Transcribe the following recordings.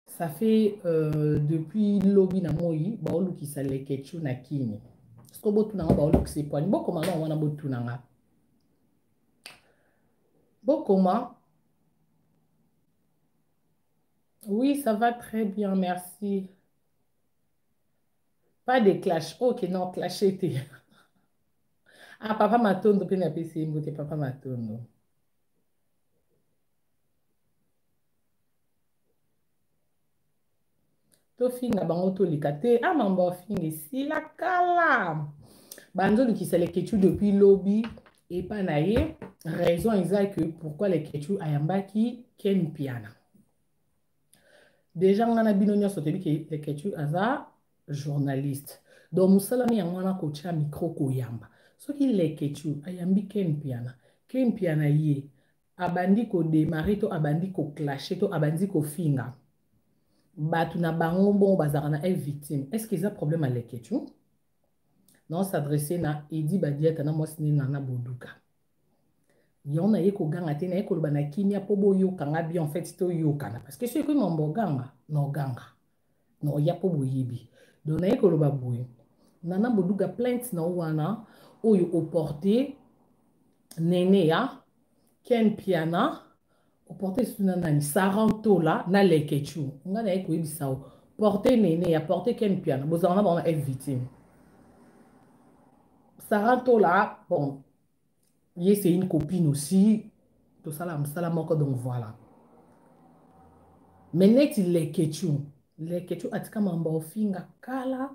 ça fait euh, depuis lobi na moi baolukisa leketchu na kini soko botuna nga baolukisa epwani bokoma nao wana botuna nga bokoma oui ça va très bien merci pas de clash ok non clash ete ah papa matondo mpe napesi ye mbote papa matondo tofinga bango toleka te a ah, mambo afinga esila kala banzolukisa leketchu depuis lobi epa na ye raison eza que pourquoi leketchu ayambaki ken piana deja ngai na bino nyonso toyebi ke leketchu aza journaliste donc mosala mi yango wana kotya mikro koyamba soki leketchu ayambi ken piana ken piana ye abandi ko demarrer to abandi ko clasher to abandi ko finga bato na bango bongo bazalaka na eve victime est ce que eza problème ya leketshou nao s'adresse na edi badiata na mwasi nini na boduka yango naye koganga te naye koloba na kimia mpo boyoka nga bien en fait toyokana parce que soki ekomi mambo oganga na oganga na oya mpo boyebi donc naye koloba boye nana boduga plainte na yo wana oyo oporte nene ya ken piana oporte esusu na nani sarantola na lekechu ngai naye koyebisa yo porte nene ya porte ken piana bozala na bango na f victime sarantola bon ye c'est une copine aussi tosala mosala moko donc voilà me neti lekechu lekechu atika mamba ofinga kala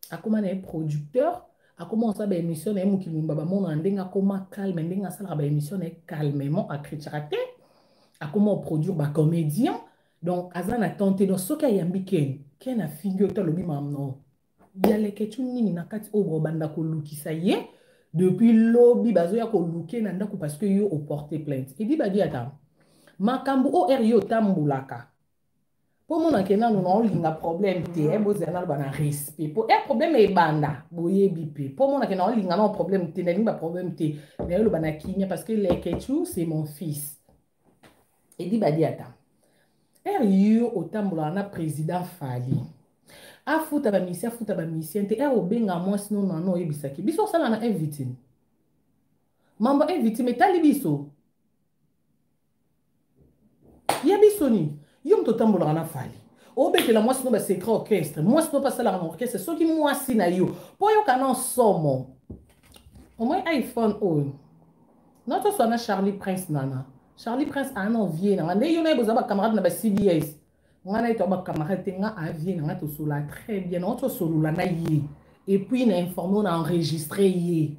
akóma na ye producteur akóma kosala baémission na ye mokili mimba bamonana ndenge akóma calme ndenge asalaka baémission na ye calmement acritiaka te akóma oproduire bacomédien donc aza na temps te donc soki ayambi ken ken afingi yo te alobi mamno ya leketchu nini na kati oyo bobanda kolukisa ye depuis lobi bazoya koluke na ndako parce que yo oporte plainte edi badi ata makambo oyo eri otambolaka mpo omonake nano na olinga problème te e bozela naloba na respect mpo e problème ebanda boyebi mpe mpo omonake na olinga nao problème te nalingi baproblème te naye oloba na kimia parce que leketchu c'est mon fils edi badiata ere yo otambolaka na président fali afuta bamisien afuta bamisien te ere obenga mwasi no nano oyebisaki biso osala na evitime mambo evitime etali biso ya biso nini yo moto otambolaka na fali obetela mwasi no basecret orchestre mwasi no mpe asalaka na orchestre soki mwasi na yo mpo oyoka na nsomo omoi iphone oyo na toswa na charlie prince nana Charlie Prince a na vie na nga nde yo na ye boza ba camarade na ba CBS nga na ye to ba camarade te nga a vie na nga tosolola très bien nango tosolola na ye et puis na informe na enregistre ye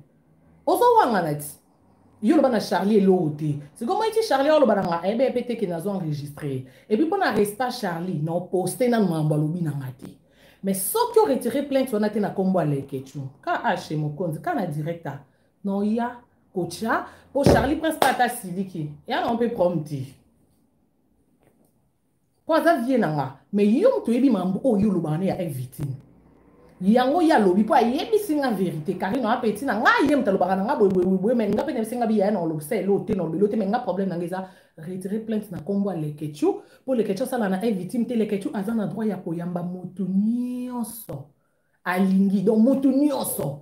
ozo wangana ti yo loba na charlie eloko te sikoyo moi ti charlie oloba na nga ebe eh pe te ke nazo enregistre et puis mpo na resta charlie na oposte nanu makambo alobi na nga te mais soki oretire plainte wana te na nkombo ya leketio kh mokonzi ka na directa noya kotya mpo charlie prince mpe ata asiliki ya nango mpe problème te mpo aza vie na nga mais yo moto oyebi mambo oyo olobaka ne ya evitine yango ye alobi mpo ayebisi nga verité karino apeti na ngai ye moto alobaka na nga boyeboyeboye mai nga mpe nayebisi nga biyaya na olobisa elo te na olobelo te mai nga problème na nga eza retire plainte na nkombo ya lekechu mpo lekechu asala na evitime te lekechu aza na droit ya koyamba moto nyonso alingi donc mutu nyonso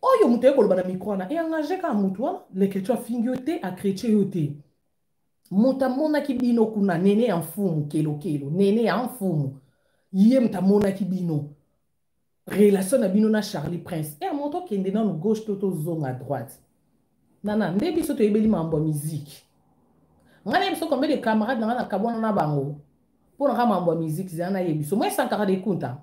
oyo moto aye koloba na mikro wana eengage kaka moto wana leketio afingi yo te akretie yo te moto amonaki bino kuna nene ya mfumu kelokelo nene ya mfumu ye moto amonaki bino relation na bino na charlie prince e moto okende nano gauche to tozonga droite nana nde biso toyebeli mambo ya miziki ngai nayebi so combien de camarade na ngai nakabwana na bango mpo na ngai mambo ya miziki zela nayebi so moi sankara de kunta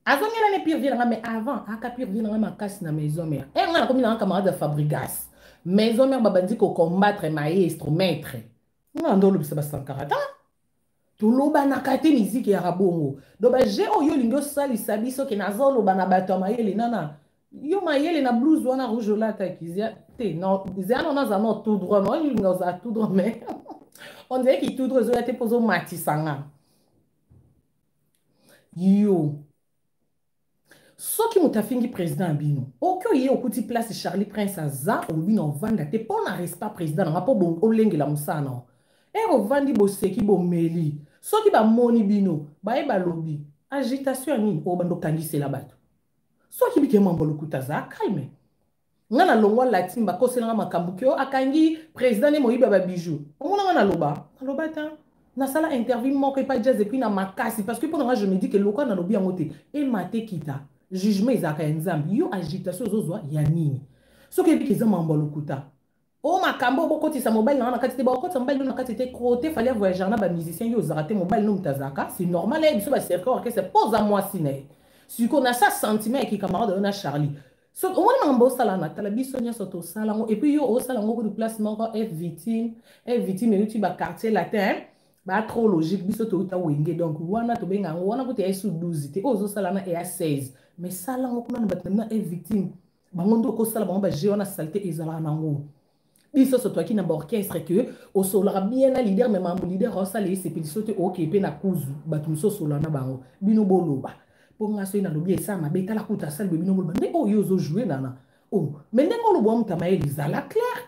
azongela ne pire vie na ngai mais avant aka pire vie na ngai makasi na maison mère e eh, ngai nakomi na ngai camarade ya fabrigas maison mère babandi kocombattre maestro maître ngai ando olobisa basankara ta tolobanaka te miziki ya rabongo do baje oyo olingi osalisa biso ke naza oloba na bato ya mayele nana yo mayele na blues wana rouge olataki te zea nona aza no tout droit nolinga oza tout droit mais ondire ki tout droit ezoya te mpo ozomatisa nga yo soki moto afingi président ya bino oki oye okuti place charlie prince aza olobi na ovanda te mpo na respect président nanga mpo olengela mosala na yo ere ovandi boseki bomeli soki bamoni bino baye balobi agitation ya nini oyo bando okangisela bato soki bikemambo lokuta za calme nga na longwa latin bakosela nga makambo ke o akangi président ne moyibi ya babijou omona nga naloba naloba te nasala interview moko epa jazz epuis na makasi parce que mpo na nga je me dis ke lokwa nalobi yango te emate kita jugement ezalaka ya nzambe yo agitation ozozwa ya nini soki eyebi ke eza makambo ya lokuta o oh, makambo bokotisa mobali na nga na kati te bakokotisa mobali no na kati te crote fali ya voyageur na bamusicien yo ozalaka te mobali no moto azalaka c'est normal aye biso bacercle orchestre mpo oza mwasi na ye sikoyo na sa sentiment ya kikamarade oyo na charlie so omoni makambo osala na tala biso nyonso tosala yango epuis yo osala yango kudu place moko f victime f victime euti baquartier latin ba trop logique biso touta wenge donc wana tobenga yango wana kutu ya esu 12 te oyo ozosala na eya 16 mais sala yango kuna na bato na bino f victime bango nde okosala bango baje wana salite ezalaka nango biso so toyaki na baorchestre ke osololaka bien na lider me mambo lider aosala esepeliso te oke mpe na kuzu bato mosusu osolola na bango bino boloba mpo ngai soki nalobi esala mabe tala kuta asali boye bino boloba nde oyo ozojoue nana o oh, me ndenge oloba motama ye lizala claire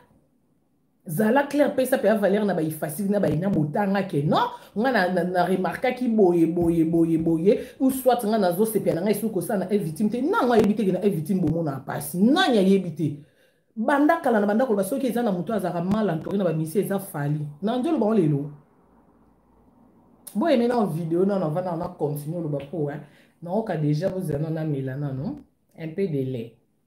zala claire pesa mpe avalere na baifasili na baina botanga ke non nga na, na, na remarkaki boye boye boye boye ou soit nga nazosepela na ngai soki kosala na evictime te nango ayebi te ke na evictime bomonaka mpasi nani ayebi te banda kala na banda koloba soki eza na moto azalaka mal entouré na bamisi eza fali na nzolo bango lelo boyeme na video nano avanda na continue oloba mpo naoka deja bozela nano amela nano un peu de lait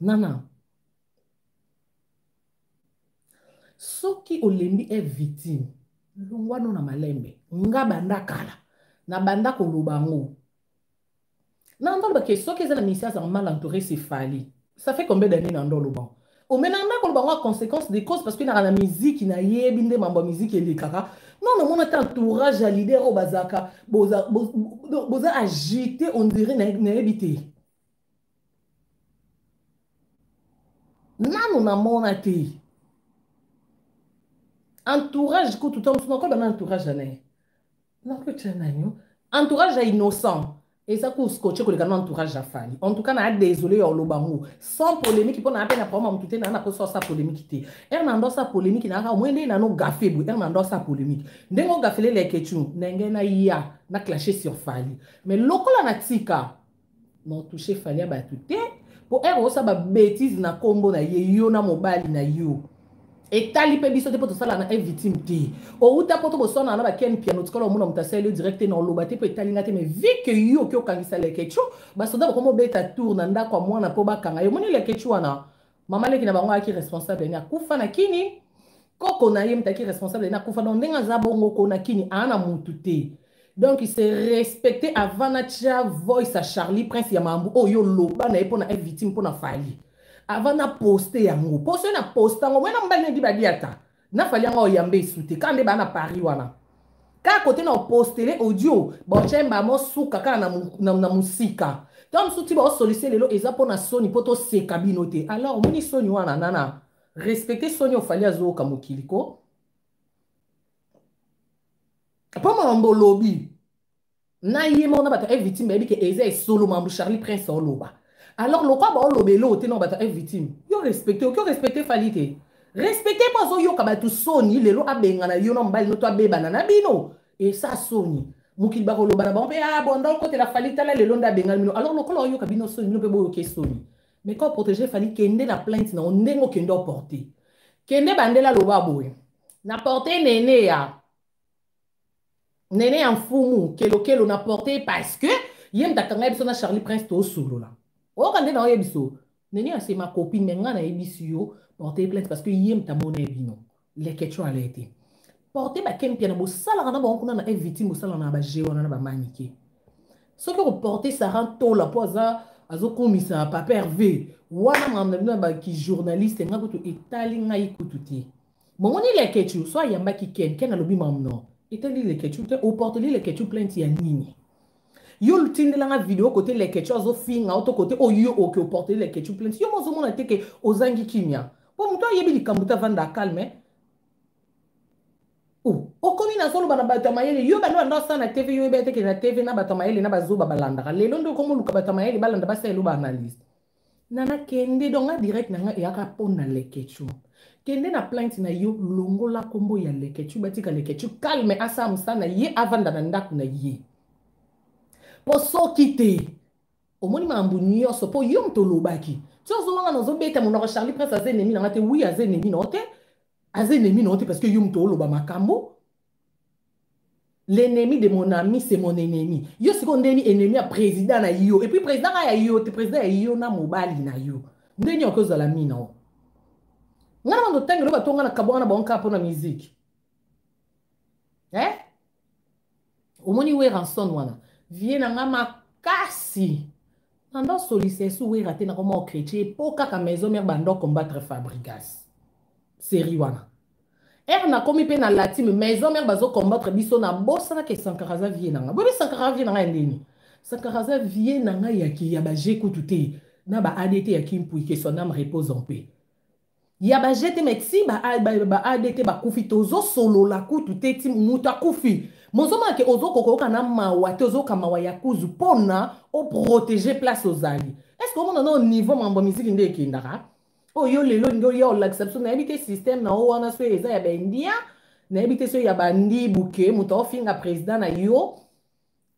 nana soki olembi e victime longwano na malembe nga banda kala na banda koloba yango na ndoloba ke soki eza na ministère azanga mal entouré c'est fali ça fait combien d'année na ndoloba omena nda koloba yango ya conséquence des causes parce que naka na miziki nayebi nde mambo ya miziki elekaka non namona ata entourage ya leader oyo bazalaka boza agité on dirait nayebi te nanu namona te entourage kutu ntango mosusu nakoyeba na entourage ya naye nakotya nanyo entourage ya innocent eza koskoche koleka na entourage ya fali en tout cas naa désolé ya oloba yango sans polémique mpo naa mpe na problème motu te naa na mposa osa polémique te ere na ndosa polémique naaka omoi ndenge nano gafe boye ere na ndosa polémique ndenge ogafele leketune ndenge naya na clashe sur fali mais lokola na tika non touche fali ya bato te mpo ere osa babetise na nkombo na ye yo na mobali na yo etali mpe biso te mpo tosala na evitime te outa mpo toboswana na bakeni piano tikala omona moto asali yo direct te na oloba te mpo etali nga te mais vi ke yo oki okangisa lekecho basoda bakomi obeta tour na ndako ya mwana mpo bakanga yo omoni lekecho wana mama leki na bango ayaki responsable ene akufa na kini koko na ye moto ayaki responsable ene akufa donc ndenge aza bongo ko na kini aa na motu te donc se respecte avant natya voice ya charlie prince ya mambu oyo oloba na ye mpo na être victime mpo na fali avant naposte yango mpo soki naposta yango mwana mobali nayedi badiata na fali yango oyambe esu te kaka nde baa na paris wana kaka kote na opostele audio bochemba mosuka kaka na, mu, na, na mosika ntango mosusu ti baosolise lelo eza mpo na soni mpo toseka bino te alors omoni soni wana nana respecte soni ofali azooka mokili ko mpo makambo olobi na ye moko na bato ya victime bayebi ke eza esolo mambo charlie prince aoloba alors lokwa baoloba eloko te na bato ya victime yo respecte oki orespecte fali te respecte mpo azoyoka bato soni lelo abengana yo na mobali no to abebana na bino esa soni mokili bakoloba na bango mpe a ah, bonda okotela fali tala lelo nde abengani bino alors lokola oyoka bino soni bino mpe boyoke soni mais quand protege fali kende na plainte na yo ndenge okende oporte kende bandela loba boye na porte nene ya nene ya mfumu kelokelo na porte parce que ye moto akanga biso na charlie prince tosolola oyoka nde na oye biso nene ya sema copine me ngai nayebisi yo porte plainte parce que ye moto amona ye bino leketio ala ete porte bakempia na bosalaka na bango kuna na evitime bosalaka na baje wana na bamanike soki okoporte sara ntola mpo aza azokomisa papa herve wana makambo na bino ya bakijournaliste ngai kutu etali ngai kutu te Bomoni Leketshou so ayambaki Ken, Ken alobi mam non. Etali Leketshou te, oporteli Leketshou plainte ya nini? yo olutindela nga video kote leketshou azofinga oto kote oyo oke oporteli leketshou plainte yo mozomona te ke ozangi kimia mpo moto ayebi likambo te avanda calme okomi nazoloba na bato ya mayele yo bando bando asala na tv yo oyebi ete ke na tv na bato ya mayele na bazoba balandaka lelo nde okomi oluka bato ya mayele balanda basala elo baanalyse nana kende donc nga direct na nga eyaka mpo na leketshou kende na plainte na yo longola nkombo ya leketshou batika leketshou calme asala mosala na ye avanda na ndako na ye mpo soki te omoni makambo nyonso mpo yo moto olobaki ti ozonganga nazobeta monoko charlie prince aza enemi na nga te wi aza enemi na yo te aza enemi na yo te parce que yo moto oloba makambo l'ennemi de mon ami c'est mon ennemi yo sikoyo ndeni ennemi ya président na yo epuis président ka ya yo te président ya yo na mobali na yo ndeni oke ozala mina o ngai na bando otangelo bato ngai na kabwanga na bango kaka mpo na miziki eh? omoni weranson wana vie na ngai makasi nando solisa esi wera te nakoma okretie mpo kaka maison mare bando combattre fabrigas seri wana Ère na komi pe na latime maison mère bazo combattre biso na bosana ke Sankara za vie nanga. Bobi Sankara vie nanga ndeni. Sankara za vie nanga ya ki ya ba j'ai kutu te. Na ba ADT ya Kim Pui que son âme repose en paix. Ya ba j'ai te mais ti ba ba, ba ADT ba kufi tozo solo la kutu te ti muta kufi. Mozo ma ke ozo kokoka na mawa te ozo kamawa ya kuzu pona o protéger place ozali. Est-ce que au monde on niveau mambo musique nde ekendaka? oyo oh, yo lelo olingi oya olakisa biso nayebi te systeme na yo wana soki eza ya baindia nayebi te soki ya bandibu ke moto aofinga président na yo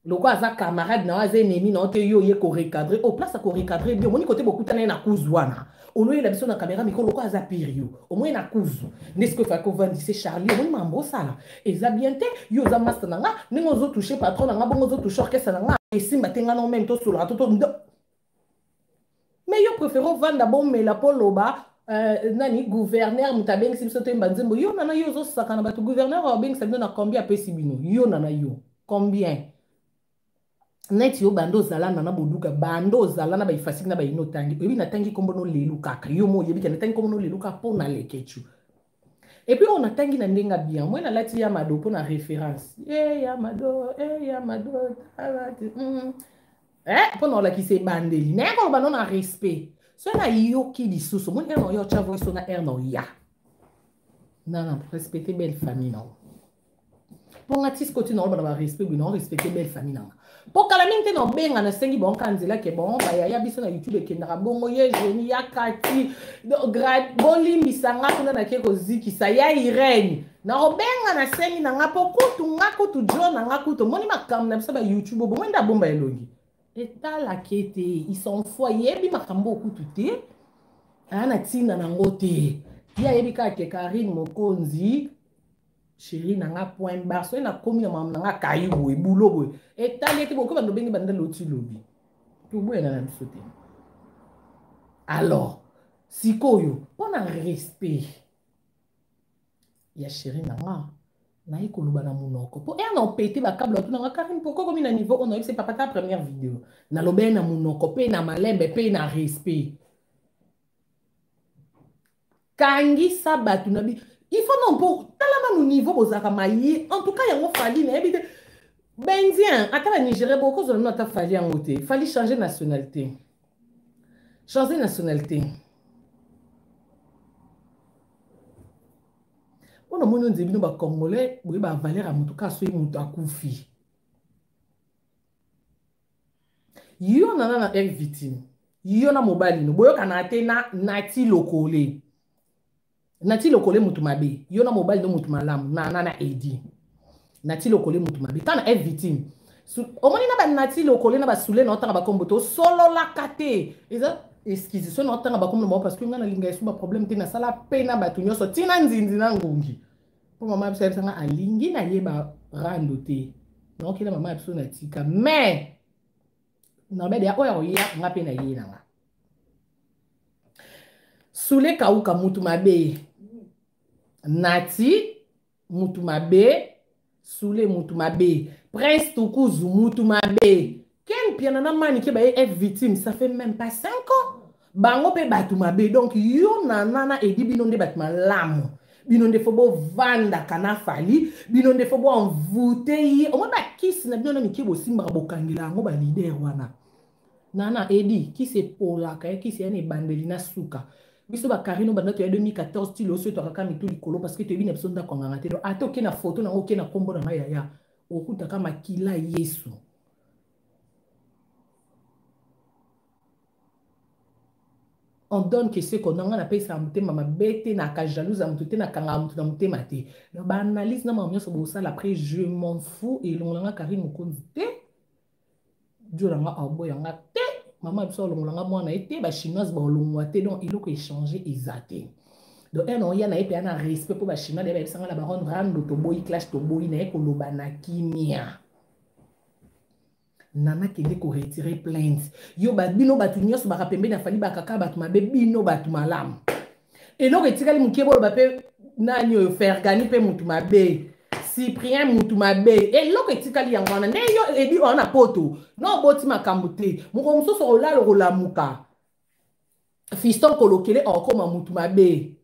lokola aza camarade na yo aza enemi na yo te yo oye korecadre o oh, place ya korecadre bi omoni kote bokuta na ye na kuzu wana oloyela biso na kamera mikolo lokola aza pire yo omoni na kuzu nde soki efaki ovandise charlie omoni mambo osala eza bien te yo oza master na nga ndenge ozotouche patron na nga bongo ozotouche orchestre na nga esimba te nga na omeme tosolaka to mais yo préfère ovanda bomela mpo loba Euh, nani gouverneur moto abengisi biso toyemba nzembo yo nana yo ozosaka na bato gouverneur abengisa bino na combien apesi bino yo nana yo combien neti yo banda ozala nana boduka banda ozala na baifasiki na baino otangi oyebi natangi nkombo no lelu kaka yo mo oyebi ke natangi nkombo no lelu kaka mpo na lekechu Et puis on a tangi na ndenga bien. Moi na lati ya mado pour la référence. Eh ya mado, eh ya mado. Mm. Eh pour la qui se bandeli. Mais on on a respect. So na yoki lisusu. Mon erno yo chavo so na erno ya. Non non, respecter belle famille non. mpo nga ti sikoti naoloba na barespect boye naorespecte belle famille nanga mpo kala mingi te naobenga nasengi bango kaka nzela ke bon bayaya biso na youtube ekendaka bongo ye geni ya kati bolimbisa nga kuna nake kozikisa ya irene naobenga nasengi na nga mpo kutu nga kutu jo na nga kutu omoni makambo na biso ba youtube obongo nde abomba elongi etalaka ete isanfo ayebi makambo okutu te aa na ntina nango te ye ayebi kaka ke karine mokonzi chérie na nga point bar soki nakomi na mama na nga kayi boye bulo boye etali ete bokoba ndobenge banda loti lobi toboyana na biso te alors sikoyo mpo na respect ya chérie na nga naye koloba na monoko mpo ere na opete bakable otuna nga karine pourkoi komi na niveau oyo nayebisi papa ta première video nalobeli na monoko mpe na malembe mpe na respect kangisa bato na bi il faut non mpo tala nanu niveau bozalaka maye en tout cas yango fali nayebi te bendien ata na nigeria bokozwa nano ata fali yango te fali changer nationalité changer nationalité mpo na moni onze bino bacongolais boye bavaleur ya moto kaka soki moto akufi yo nana na eric victime yo na mobali no boyokana te na nati lokole nati lokole motu mabe yo na mobali no motu malamu nana na edi nati lokole motu mabe ntango na eric victime omoni na banati lokole na basule na otanga bakombo te osololaka te eza excuse so na otanga bakombo na bango parce que ngai nalinga esu baproblème te nasala mpe na bato nyonso ntina nzinzi na ngungi mpo mama biso ayebisa nga alingi nayeba rando te naokela mama ya biso na tika mais nabede ya oyo akoya nga mpe naye na nga sule kauka mutu mabe nati mutu mabe sule mutu mabe prince tukuzu mutu mabe Ken Mpiana na Manike baye F victime, ça fait même pas 5 ans. Bango pe batu mabe. Donc yo na nana edi bino nde batu malamu. Bino nde fo bo vanda kana fali, bino nde fo bo envoute ye. Omwe ba kiss na bino na mike bo simba bo kangela yango ba leader wana. Nana edi kisi epolaka, eh, kisi yana ebandeli na suka. biso bakarino banda toya 2014 ti loso eto akaka mitu likolo parce que toyebi na biso ndako anganga te ata oke na foto nango oke na nkombo na ngai yaya okutaka makila yesu on donne que ce qu'on a nga napesa motema mabe te naka jalouse ya moto te nakanga moto na motema te donc baanalyse na makambo nyonso bosala après je m'en fou elongola nga karine mokonzi te diola nga aoboya nga te mama ya biso alongola nga mwana ye te bachinoise baolongwa te donc eloko echange eza te donc ena oya na ye mpe ana respect mpo bachinois na ye bayebisa nga na baronne rando toboyi clash toboyi na ye koloba na kimia nana kende koretire plainte yo bino bato nyonso baka pembeni afali bakaka bato mabe bino bato malamu eloko etikali moke boloba mpe nani oyo fergani mpe motu mabe cyprien motu mabe eloko etikali yango wana nde yo edi oyo na poto na oboti makambo te mokolo mosusu olala okolamuka fiston kolokele okoma motu mabe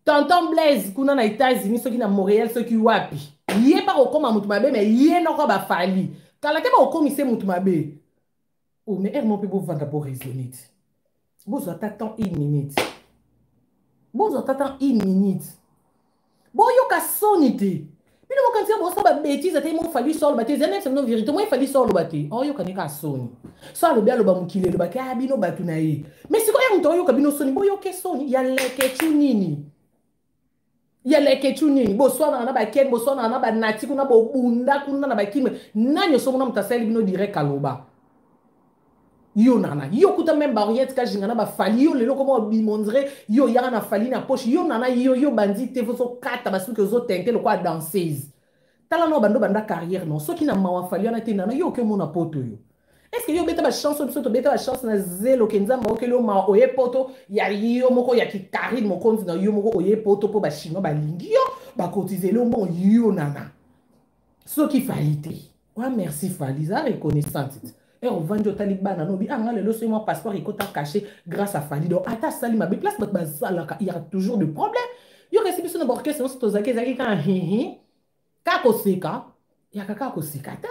tonton blaise kuna na états-unis soki na montréal soki wapi ye mpe akokoma motu mabe me ye noko bafali kala te bakokomisa ye motu mabe o oh, me ere mo mpe bovanda boraisonne te bozwa ata temps une minute bozwa ata temps une minute boyoka soni te bino bokanisa bosa babetize ata mo fali so aloba te eza nayebisa bino verité moi fali so aloba te oyokani kaka soni so alobi aloba mokili elobaki a bino bato na ye mai sikoyo ya moto oyoka bino soni boyoke soni ya lekecu nini ya lekecu nini boswanaka na bakeni boswanaka na banati kuna bobunda kuna na bakime nani osomona moto asali bino direct aloba yo nana yo kuta meme baoriette kajinga na bafali yo lelo koma obimondre yo oyaka na fali na poche yo nana yo yo bandi te ozokata basuki ozotente lokola danseuse tala nao bando banda carrière non soki na mawa fali wana te nana yo oke omona poto yo est ce que yo obeta bachance biso tobeta bachance na zelo ke nzambe aokeli yo mawa oye poto ya yo moko ya kikarine mokonzi na yo moko oye poto mpo bachinois balingi yo bakotizeli yo mbongo yo nana soki fali te wa merci fali eza reconnaissante ti ere ovandi otali bana nobi anga ah, lelo soki mwa passeport ekota cache grâce à fali donc ata asali mabe place bato bazalaka ya toujours de problème yoka esi biso na baorchestre nyonso tozalaki ezalaki kaka hihi kaka koseka yaka kaka koseka te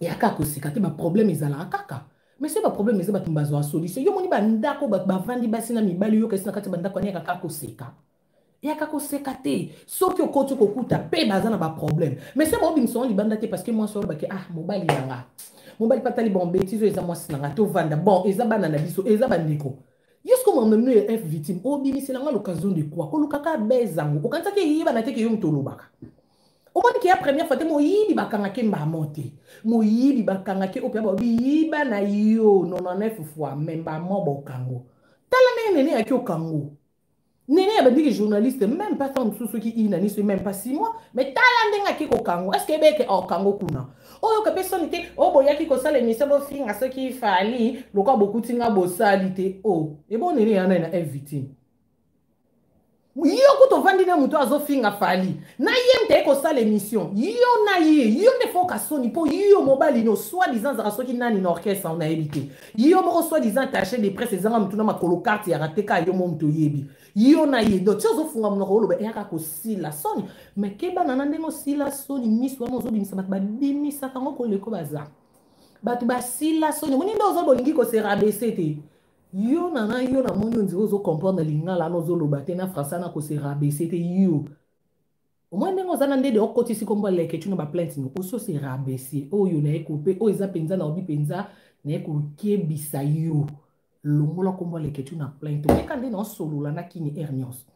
ya kaka koseka te baproblème ezalaka kaka mais soki baproblème eza bato bazwa solution yo moni bandako bato bavandi basi na mibali yoka esi na kati ya bandako aniyaka kaka koseka yaka koseka te soki okoti kokuta mpe baza na baproblème mais se baobimisa yango libanda te parce que mwasi olobaki ah mobali na nga mobali mpe atali bon betise oyo eza mwasi na nga tovanda bon eza bana na biso eza bandeko yesu komamamino ya f victime obimisela nga l'occasion de quoi kolukaka beza yango okanisaki eyebana te ke yo moto olobaka omoni ke ya première fois te moyibi bakangaki mbamo te moyibi bakangaki oyo mpe babiyiba na yo 99 fois me mbamo bokango tala ndenge nene yaki okango nene ya bandiki journaliste même pas temps mosusu soki ina niso même pas six mois mais tala ndenge ake kokango est ce que ebeke okango kuna oyoka mpe soni te o oh, boyaki kosala emission bofinga soki fali lokola bokuti nga bosali te o oh, ebo nene yana na invité yo kutu ovandi na moto azofinga fali na ye mteye kosala emission yo na ye yo nde foka soni mpo yo mobali no soi disant azaka soki nani na orchestre nayebi te Yo moko soit disant attaché de presse ezanga mutu na makolo carte ya rate ka yo mo mutu oyebi. Yo na ye donc ozo funga munoko oloba eyaka ko sila soni. Mais keba na ndenge osila soni misu wana ozo bimisa bato ba bimisa kango ko leko baza. Bato ba sila soni moni nde ozo bolingi ko se rabaisser te. Yo na na yo na moni onzi ozo comprendre lingala na ozo loba te na français na ko se rabaisser te yo. omoi ndenge oza na ndede okotisi nkombo ya leketchu na baplainte no osi ose rabaisser oyo na ye kope oyo eza mpenza na obi mpenza na ye kokebisa yo longola nkombo ya leketchu na plainte omeka nde na osolola na kini aire nyonso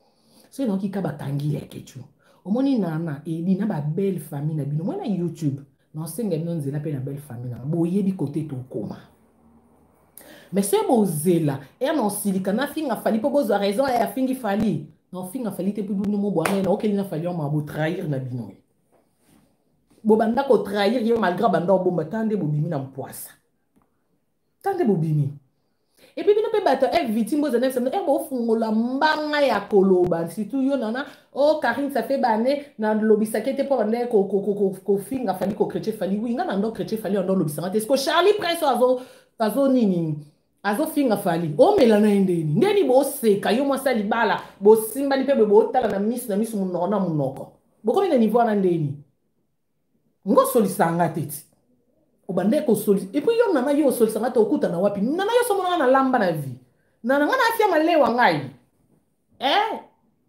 soki naokika bakangi leketchu omoni nana edi na babelle famille na bino omoi na youtube nasenga bino nzela mpe na belle famille nanga boyebi kote tokoma mais soki bozela ere eh, naosilika nafinga fali mpo bozwa raison ya eh, afingi fali naofinga fali te mpo bino mobwana ye naokeli na fali yama botrahir na bino ye bobanda kotrahir ye malgre banda obomba ta nde bobimi na mpwasa ta nde bobimi epuis bino mpe bato ya victime bozana bisambo e bofungola mbanga ya koloba surtout yo nana o oh, karine ça fait bane nalobisaki ete mpo banda kofinga fali kokretie fali wi nga na ndo kretie fali ando olobisanga te siko charlie prince azo azo nini azofinga fali omela na ye ndeni ndeni boseka yo mwasi ya libala bosimbani mpe boye botala na miso na miso monoko na monoko bokomi na niveau wana ndeni nga osolisaka nga te ti obandaki kosolisa epuis yo nana yo osolisa nga te okutana wapi nana yo somona nga na lamba na vie nana nga na afia malewa ngai eh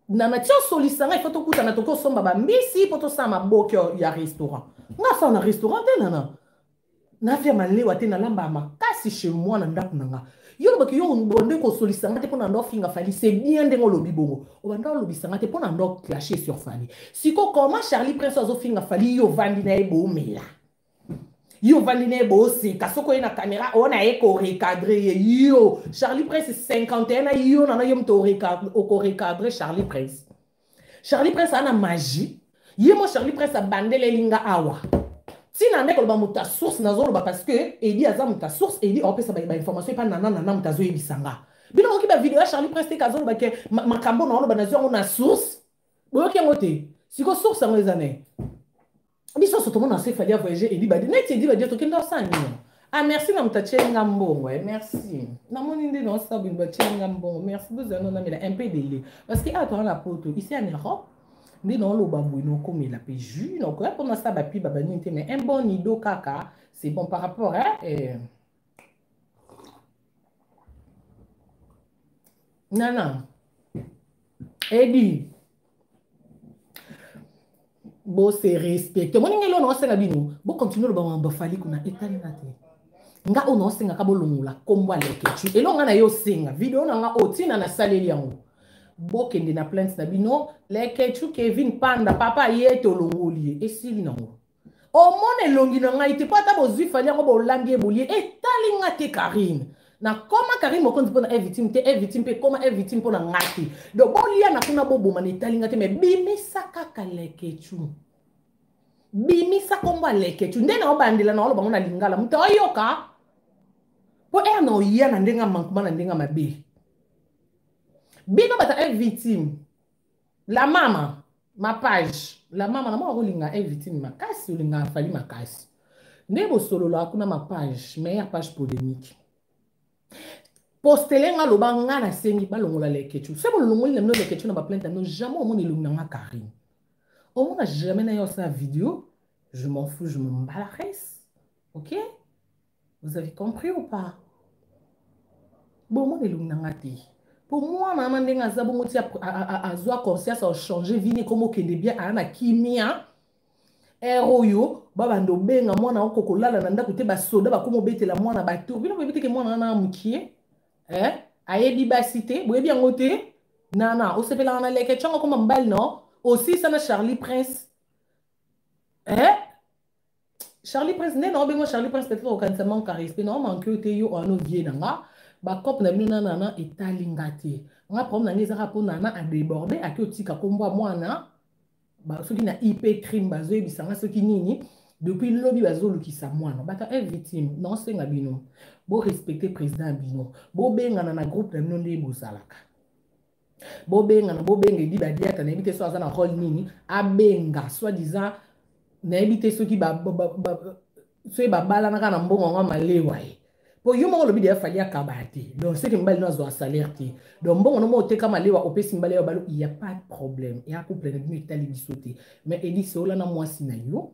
nana ti osolisa ngai fo tokutana toki osomba bambisi mpo tosala maboki ya restaurant nga asala na restaurant te nana nafia malewa te nalambaka makasi chez moi na ndako na nga yo olobaki yo obande kosolisa nga te mpo na nda ofinga fali c'est bien ndenge olobi bongo obanda olobisa nga te mpo na nda oclashe sur fali siko comment charlie prince azofinga fali yo ovandi na ye boomela yo ovandi na ye booseka soki oye na kamera oyo na ye korecadre ye yo charlie prince 51 na yo nana yo moto okorecadre charlie prince charlie prince ana magie ye mo charlie prince abandeleli nga awa ntina nde koloba moto ya source nazoloba parce que edi aza moto ya source edi aopesa baye bainformation epa nana nana moto azoyebisa nga bino moki bavideo ya charlie prince teke azoloba ke makambo na oloba nazwi yango na source boyoki yango te siko source yango eza naye biso so tomona se fali avoyage elibadi neti elibadi yo tokenda osala nini ah merci na moto atyeli nga mbongo eh, merci namoni nde naosala bino batyeli nga mbongo merci bozala no namela un peu dele parce que awa toza na poto ici en europe nde naoloba boye naokomela mpe jus naokoya mpo nasala bapiba banini te mais un bon nido kaka c'est bon par rapport eh, eh. nana edi bose respecte omoni ngai lona osenga bino bokontinue loba mambo afali kuna etali nga te nga oyo naosengaka bolongola nkombo alekecu eloko nga na ye osenga video na nga oyo ntina nasaleli yango bokende na plainte na bino lekecu kevin panda papa ye tolongoli ye esili nango omona elongi na ngai te mpo ata bozwi fali yango bolambi ye bolie etali nga te karine nakoma karine mokonzi mpo na evitime te evitime mpe ekoma evitime mpo na ngai te donc boliana kuna boboma na etali nga te mai bimisa kaka lekecu bimisa nkombo ya lekecu nde naobandela na oloba ngo na lingala moto oyoka mpo ere na oya na ndenge ya mankuma na ndenge ya mabe bino bata evitime la mama ma page la mama na mwa kolinga evitine makasi olinga afali makasi nde bosololaka kuna ma page me ya page polémique postele nga loba nga nasengi balongola lekechu se bolongoli na bino lekechu na baplainte na bino jamais omona elongi na nga karine omona jamais na yo osala video je m'en fous je me mbalares ok Vous avez compris ou pas? bomoni elongi na nga te mpo mwana wana ndenge aza bongo ti azwa conscience achange vini ekoma okende bien aya na kimia ere oyo babanda obenga mwana oko kolala na ndako te basoda bakoma obetela mwana batour bino boyebi teke mwana wana mokie eh? ayebi basi te boyebi yango te nana osepelaka na leke ntango akoma mobali no osisa na charlie prince eh? charlie prince nde na obengo charlie prince peut-être okanisa manque ya respect na omanke yo te yo oana ovie na nga bacope na bino na nana etali nga te nga problème na nga ezaka mpo nana adeborde ake otika nkombo ya mwana soki na ip crime bazoyebisa nga soki nini depuis lobi bazolukisa mwana bata e victime na osenga bino borespecte président ya bino bobengana na groupe na bino nde bozalaka bobengana bobenga edi badiata nayebi te so aza na role nini abenga soit disant nayebi te soki soki babalanaka na mbongo yango malewa ye mpo yo moko olobi deya fali akaba ya te donc soki mibali no azwa salaire te donc mbongo no moko oteka malewa opesi mibali ya balo ya pas de problème ya couple na bino etali biso te mais edi seola na mwasi na yo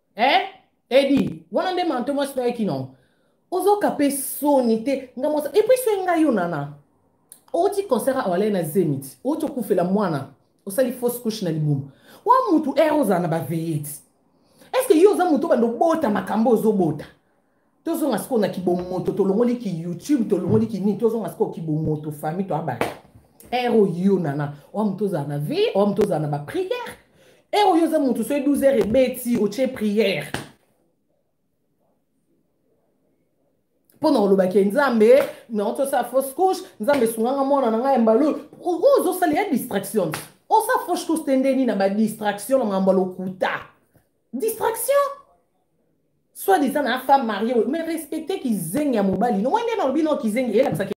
eh edi wana nde manto mwasi na ye kino ozoka mpe soni te nga mwasi epuis soki ngai yo nana outi concert awa alai na zenit outi okufela mwana osali fausse couche na libumu wa mutu ere ozala na baveyete estce yo oza moto obanda obota makambo ozobota tozonga sikoyo na kibomoto tolongoli ki youtube tolongoli ki nini tozonga sikoyo kibomoto famille toya bato ere oyo nana oya moto ozala na vie oya moto ozala na bapriere ere oyo oza moto soki 12 heure ebeti otie priere mpo na olobaki nzambe nauti osala fausse couche nzambe esunganga mwana na ngai ya mbalo oyo ozosala ya distraction osala fausse couche te nde nini na badistraction na makambo ya lokuta distraction soit disant na femme mariée mais respecter kizengi ya mobali no moi nde nalobi no kizengi eyelakisaki